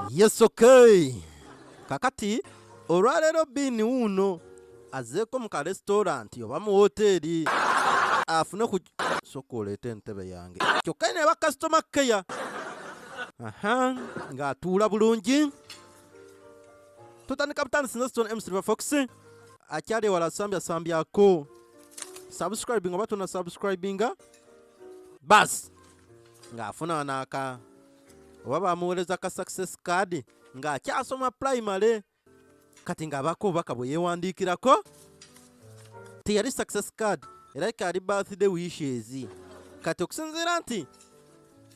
Yes, okay. Kakati olwaleero biini wuuno azeeko mu kalesitolanti oba mu woteeri afune ku soka oleeta entebe yange kyokka ne bakasitoma keya aha ng'atuula bulungi tutandika butandisi nze stone msilver fox akyali ewala sambyako subscribing oba tuna subscribinga basi ng'afuna naaka oba bamuweereza ka success card ng'akyasoma primary kati ng'abaako obubaka bwe yeewandiikirako teyali success card era kaali birthday wishes kati okusinziira nti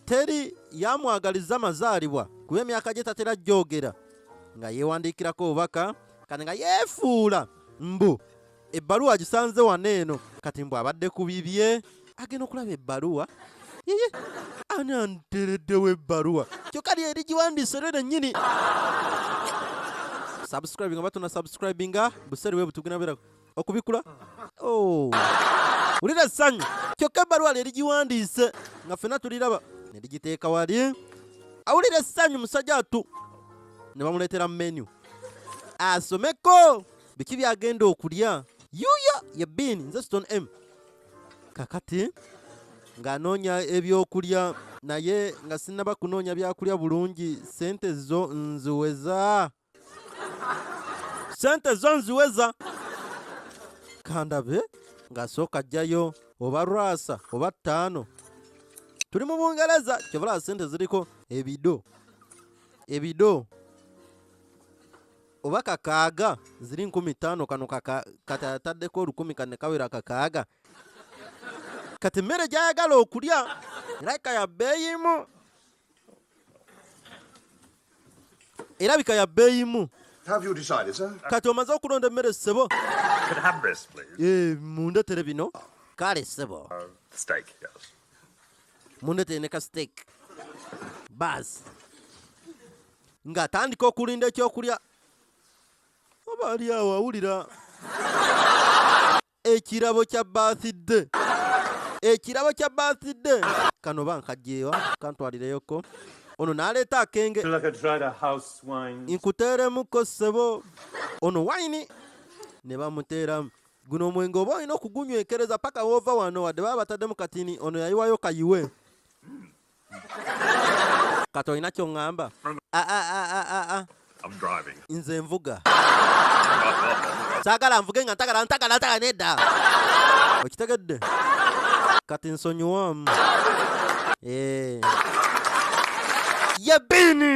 teri yamwagaliza mazaalibwa kuba emyaka gye tatera gyogera nga yeewandiikirako obubaka kati nga yeefuula mbu ebbaluwa agisanze wano eno kati mbw abadde ku bibye agenda okulaba ebbaluwa yeye ani antereddewo ebbaluwa kyokka lye erigiwandiise lyo lennyini subscribinga oba tuna subscribinga buseeri bwe butugina bera okubikula oh. wulira essanyu kyokka ebbaluwa lye erigiwandiise nga ffena tuliraba ne ligiteeka wali awulira essanyu musajja atu ne bamuleetera menu asomeko biki byagenda okulya yuya ye bin nze ston m kakati ng'anoonya ebyokulya naye nga sinaba kunoonya byakulya bulungi sente zo nziweza sente zo nziweza kandabe ng'asooka ajjayo oba rwasa oba ttaano tuli mu bungereza kyobulaba sente ziriko ebido ebido oba kakaaga ziri nkumi ttaano kano kati ataddeko olukumi kane kawera kakaaga kati emmere gyayagala okulya erabika ya bbeeyimu erabika ya bbeeyimu kati omaze okulonda emmere ssebo eh, mundetere bino kale ssebo uh, mundetere ne ka steak baasi ng'atandika okulinda ekyokulya oba ali awo awulira ekirabo kya bathidde ekirabo kya bathidde kano ba nkajjeewa kantwalireyoko ono n'aleeta akenge nkuteeremuko ssebo ono wayini ne bamuteeramu guno omwenge oba olina okugunywekereza paka woova wano wadde baba bataddemu katini ono yayiwayo kayiwe kati olina kyoŋŋamba ah, ah, ah, nze nvuga saagala nvuge nga ntagala ntagala ntagala nedda okitegedde kati nsonyiwamu eh. ye bini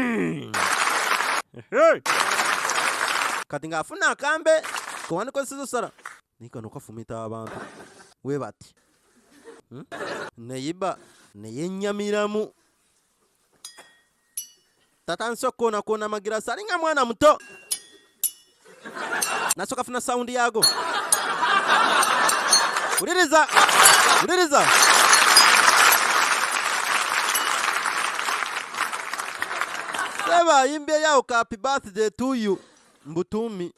kati ng'afuna akambe kewandikozesezo sala Naye kano kafumita abantu we bati hmm? neyiba neyennyamiramu tatandise okukoonakoona amagirasi alinga mwana muto nasooka funa sawundi yaago wuliriza wuliriza seba ayimbyeyo awo kapi birthday to you mbutuumi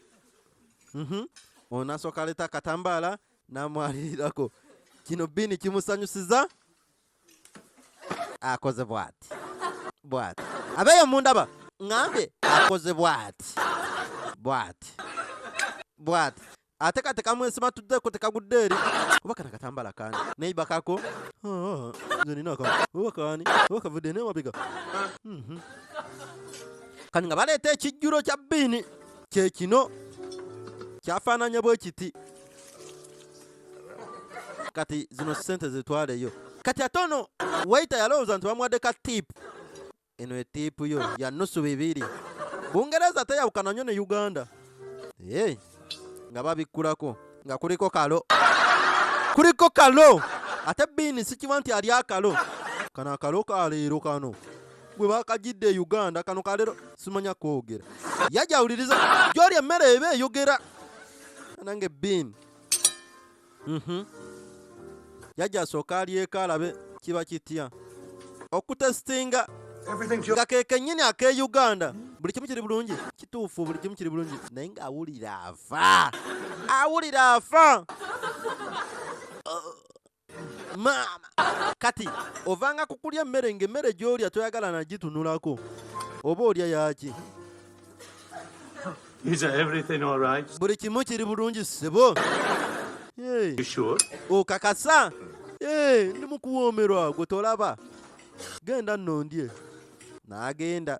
Mhm. Ono nasooka aleeta akatambaala n'amwalirirako. Kino Bini kimusanyusiza akoze bwati bwati abeeyo mundaba ngambye akoze bwati bwati bwati ate katekamu ensima tuddeko tekagudde eri oba kana katambala kani neiba kako ah, nze ninako oba kani oba kavudde newabega mhm. kani nga baleeta ekijjulo kya bini kye kino kyafaananya bwe kiti kati zino sente zitwaleyo kati ate ono waita yalowooza nti bamuwadde ka tipu eno etipu yo ya nusu bibiri bungereza teyawukana nnyo ne uganda hey, nga babikkulako nga kuliko kalo kuliko kalo ate biini sikiba nti ali akalo kano akalo kaleero kano gwe bakajidde e Uganda kano kalero simanya kwogera yajawuliriza gyoli emmere eba eyogera nange bin mhm. yajja asooka alyeko alabe kiba kitya okutesitinga nga kekenyini ake Uganda buli kimu kiri bulungi kituufu buli kimu kiri bulungi naye nga awulira afa awulira afa maama kati ovanga kukulya emmere ng'emmere gy'olya toyagala nagitunulako oba olya yaki buli kimu kiri bulungi sebo okakasa ndi mukuwoomerwa gwe tolaba genda nno ndye n'agenda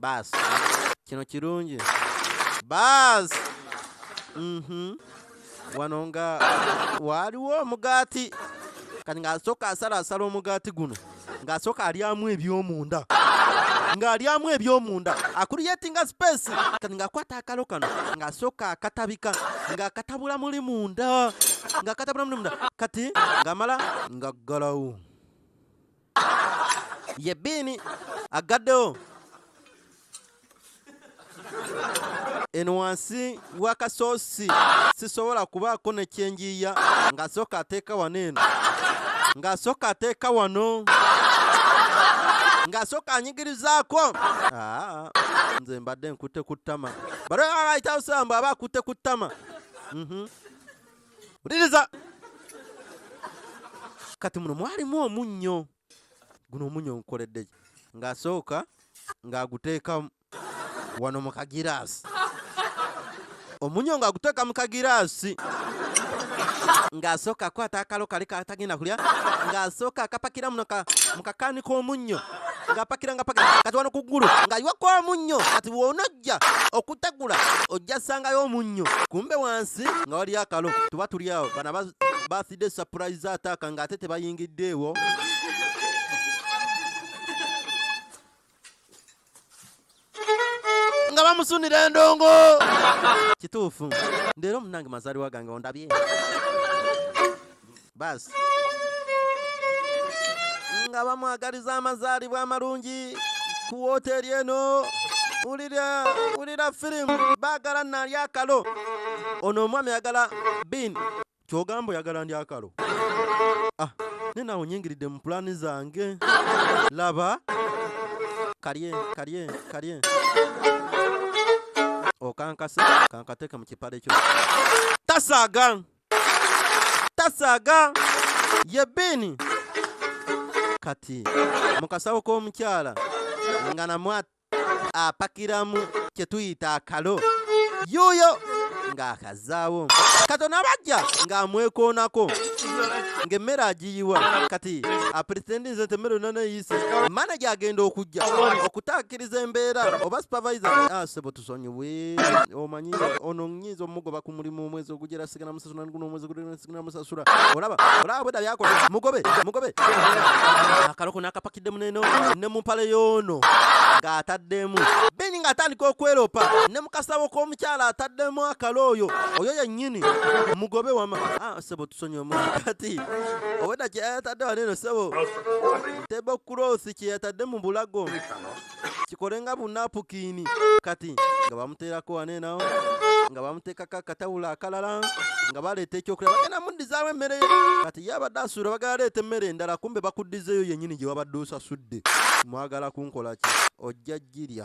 baasi kino kirungi baasi mhm. wano nga waaliwo omugaati kati ng'asooka asalaasala omugaati guno ng'asooka alyamu eby'omunda ng'alyamu eby'omunda akuriyetinga sipeesi kati ng'akwata akalo kano ng'asooka akatabika ng'akatabula muli munda ng'akatabula muli munda kati ng'amala ng'aggalawo Ye Bean aggaddewo eno wansi w'akasoosi sisobola kubaako ne kyenjiiya ng'asooka ateeka wano eno ng'asooka ateeka wano ng'asooka anyigirizaako ah, nze mbadde nkutte ku ttama bali abayitawo samba aba akutte ku ttama mhm. uliriza kati muno mwalimu omunnyo guno omunnyo nkukoledde ng'asooka ng'aguteeka wano mu kagiraasi omunnyo ng'aguteeka mu kagiraasi ng'asooka akwata akalo kali katagenda kulya ng'asooka akapakira muno mu kakaani k'omunnyo ng'apakira ngapakira kati wano ku ggulu ng'ayiwako omunnyo kati wona okujja okutegula ojja sangayo omunnyo kumbe wansi nga wali akalo tuba tuli awo bana bathide surprise ataaka ng'ate tebayingiddeewo nga bamusunira endongo kituufu ndeero omunange mazaliwa gange ondabye basi nga bamwagaliza amazaalibwa amalungi ku wooteeri eno wulira wulira firimu baagala nali akalo ono omwami ayagala bin kyogamba oyagala ndi akalo ah, ne nawe nyingiridde mu pulaani zange laba kalye kalye kalye okankasa kankateka mu kipale kyo tasaaga tasaaga ye bini kati mu kasawo k'omukyala nga namwa apakiramu kye tuyita akalo yuuyo ng'akazaawo katona bajja ng'amwekoonako ng'emmere agiyiwa kati apretendinze nti emmere yonna neyiise manaja agenda okujja okutaakiriza embeera oba supervisor asebo ah, tusonyiwe omanyi ono nyinza omugoba ku mulimu omwezi ogujja era sigana musasula nguno omwezi ogujja sigana musasula olaba olaba bweda byakola mugobe mugobe akaloko nakapakidde muneno ne mumpale yono ng'ataddemu beni ng'atandika okweropa ne mukasabo k'omukyala ataddemu akalo oyo oyo yennyini mugobe wama ah, sebo tusonyiwe mu kati obwedda kyeyatadde waneno sebo tebokkulosi kyeyatadde mu bulago kikole nga bunapukini kati nga bamuteerako waneena nga bamuteekako akatawulo akalala nga baleeta ekyokulya bagenda muddizaawo emmere kati ye abadde asuula bagala leeta emmere endala kumbe bakuddizeeyo yennyini gye wabadde osasudde mwagala kunkola ki ojja girya